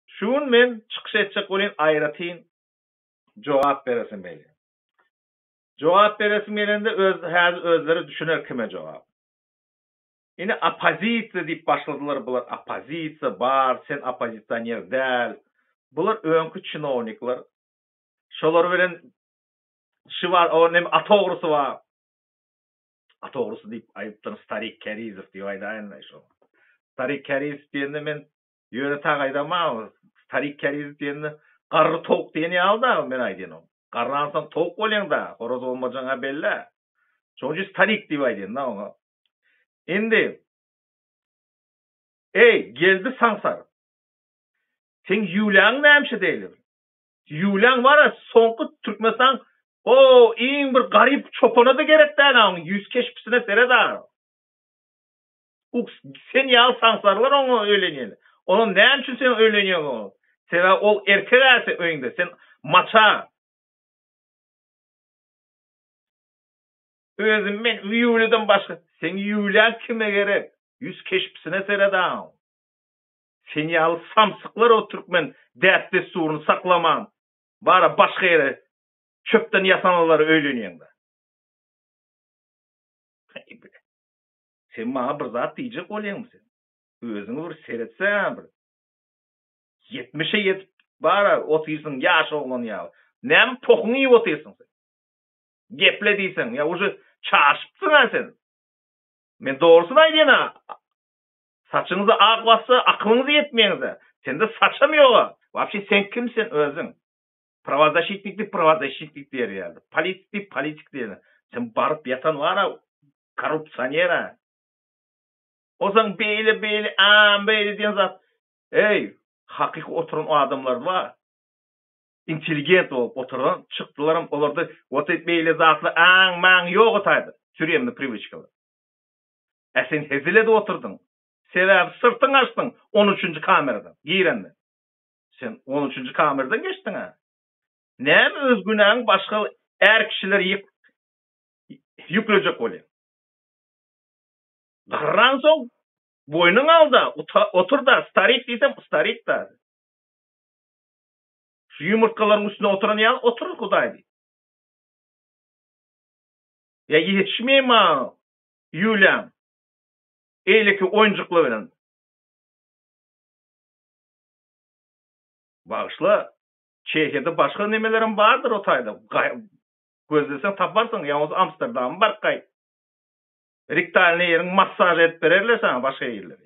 Şu gün men çykyş etjek welin aýratyn jogap beresim gelýär. Jogap beresim gelende öz häzir özleri düşüner kime jogap. Ine oppozisiýa diýip başladylar bular oppozisiýa bar sen oppozisioner däl bular öňki çinownikler şolar bilen şy bar o neme at ogrusy bar. A dogrusy diýip aýdypdyryn Starik Kärizow diýip aýdaýynmy şo. Starik Kärizow diýende men ýöne tak aýdaman Starik Kärizow diýende garry towuk diýen ýaly dagy men aýdýan garransoň towuk bolýaň dagy horaz bolmajagyňa bellä. Şoň üçin Starik diýip aýdýan da oňa. Indi Eý, Geldi Saňsar! Seň ýüwläň nämişe deýlibir? Ýulian Waras soňky Türkmenistan o iň bir garyp çopanada gerek däl a oň ýüz keşpisine seret a. Uks sen ýaly saňsarlar oňa öýlenýän. Onam näme üçin sen öýlenýäň oňa. Sebäbi ol erkek a sen öýüňde sen maça. Özüm men Ýulidan başga. Seň Ýulian kime gerek. Ýüz keşpisine seret a oň. Sen ýaly samsyklar o türkmen däp-dessuryny saklaman, bara başga ýere çöpden ýasamalara öýlenýeňda. Heý bile. Sen maňa bir zat diýjek bolýaňmy sen? Özüňi bir seretseň-ä bir. Ýetmişe ýetip bara otyrsyň ýaş oglan ýaly. Näme pohuňy iýip otyrsyň sen? Geple diýseň, ýa uje çaşypsyň-a sen. Men dogrusyny aýdýan-a Saçyňyzy ak bassa akylyňyz ýetmeýäňiz-ä. Sende saçam ýog-a. Wapşe sen kim sen özüň? Prawazaşitnik diýip prawazaşitnik diýer ýaly. Politik diýip politik diýer ýaly. Sen baryp ýatan bar-a korrupsioner-ä. Bolsaň beýle beýle aam beýle diýen zat. Eý, hakyky oturan adamlar bar. Intelligent bolup oturan çykdylaram olarda ot beýle zatlar aam maam ýog-a taýda. Türemni priwiçkalar. Ä sen hezil edip oturdyň. Sebäbi syrtyňy açdyň on üçünji kameradan girende. Sen on üçünji kameradan geçdiň-ä. Näme öz günäňi başga är kişilere ýyk ýüklejek bolýaň. Garransoň boýnuňy al-da, otur-da, starik diýsem, starik-da. Şu ýumurtgalaryň üstünde oturan ýaly otur, Hudaý diýip. Ýa ýetişmeýär maňa Ýuliýaň eýleki oýunjyklar bilen. Bagyşla, Çehiýada başga nemelerem bardyr o taýda. Gözleseň taparsyň, ýa bolsa Amsterdama baryp gaýt. Riktalny ýeriň massaž edip bererler saňa başga ýerleri.